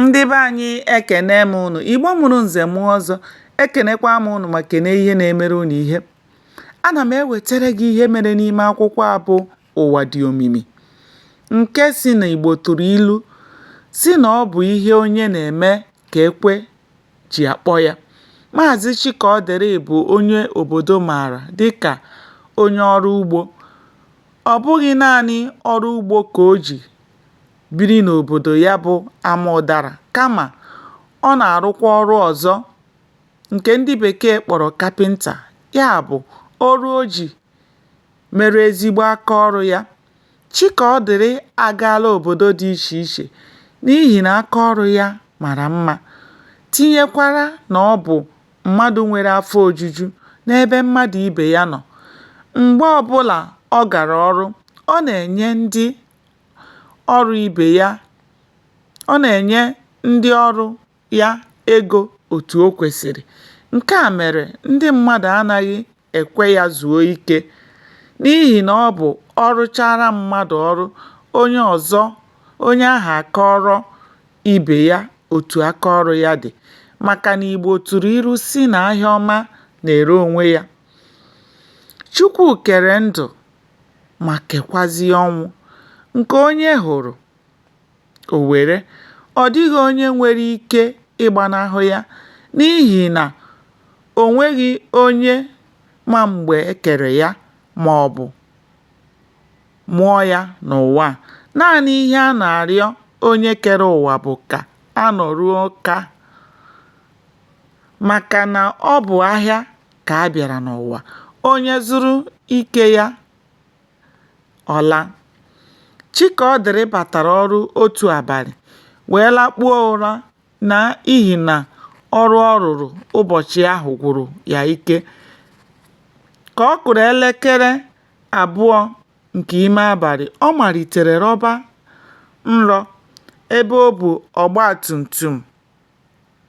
ndị be anyị ekene m ụnụ igbo mụrụ nze mụọ ọzọ ekenekwa m ụnụ ma kene ihe na-emere ụnụ ihe ana m ewetara gị ihe mere n'ime akwụkwọ a bụ ụwa dị omimi nke sị na igbo tụrụ ilu sị na ọ bụ ihe onye na-eme ka ekwe ji akpọ ya maazị chikaọdịrị bụ onye obodo maara dịka onye ọrụ ugbo ọ bụghị naanị ọrụ ugbo ka o ji biri n'òbòdò ya bụ ama ụdarà kamà ọ nà-àrụkwa ọrụ ọ̀zọ ǹkè ndị bèkeè kpọ̀rọ̀ kapịntà ya bụ̀ ọrụ o jì mere ezigbo aka ọrụ̄ ya Chikaọdịrị àgaala òbòdo dị ichè ichè n'ihì nà aka ọrụ̄ ya màrà mmā tinyekwara nà ọ bụ̀ mmadụ̄ nwere afọ ojuju n'ebe mmadụ̀ ibè ya nọ̀ m̀gbe ọbụlà ọ gàrà ọrụ ọ nà-ènye ndị ọrụ ibe ya, ọ nà-ènye ndị ọrụ ya egȯ òtù o kwèsìrì, ǹke à mèrè ndị mmadụ̀ anȧghị èkwe yȧ zùo ikė n'ihì nà ọ bụ̀ ọ rụchara mmadụ̀ ọrụ onye ọ̀zọ onye ahụ̀ àkọọrọ ibè ya òtù aka ọrụ ya dị̀ màkà nà ìgbò tụ̀rụ̀ ilu sị nà ahịa ọma nà-ère ònwe yȧ. Chukwu kere ndụ. ma kekwazie ọnwụ nke onye hụrụ o were, ọ dịghị onye nwere ike ịgbanahụ ya n'ihi na o nweghị onye ma mgbe e kere ya maọbụ mụọ ya n'ụwa a. Naanị ihe a na-arịọ onye kere ụwa bụ ka a nọruo kaa maka na ọ bụ ahịa ka a bịara n'ụwa onye zụrụ nke ya ọ laa chikaọdịrị batara ọrụ otu abalị wee lakpuo ụra na ihi na ọrụ ọ rụrụ ụbọchị ahụ gwụrụ ya ike ka ọ kụrụ elekere abụọ nke ime abalị ọ malitere rọba nrọ ebe ọ bụ ọgba tum tum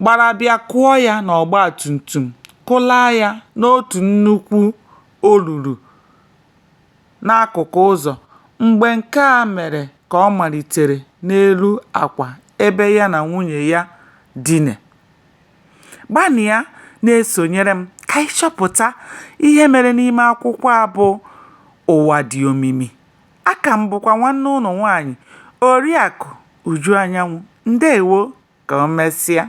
gbara bịa kụọ ya n'ọgba tum tum, kụlaa ya n'otu nnukwu olulu n'akụkụ ụzọ. Mgbe nke a mere ka ọ malitere n'elu akwa ebe ya na nwunye ya dina. Gbalịa na-esonyere m ka anyị chọpụta ihe mere n'ime akwụkwọ a bụ Ụwa Dị Omimi. aka m bụkwa nwanne ụnụ nwaanyị Oriakụ Uju Anyanwụ ndewo ka o mesịa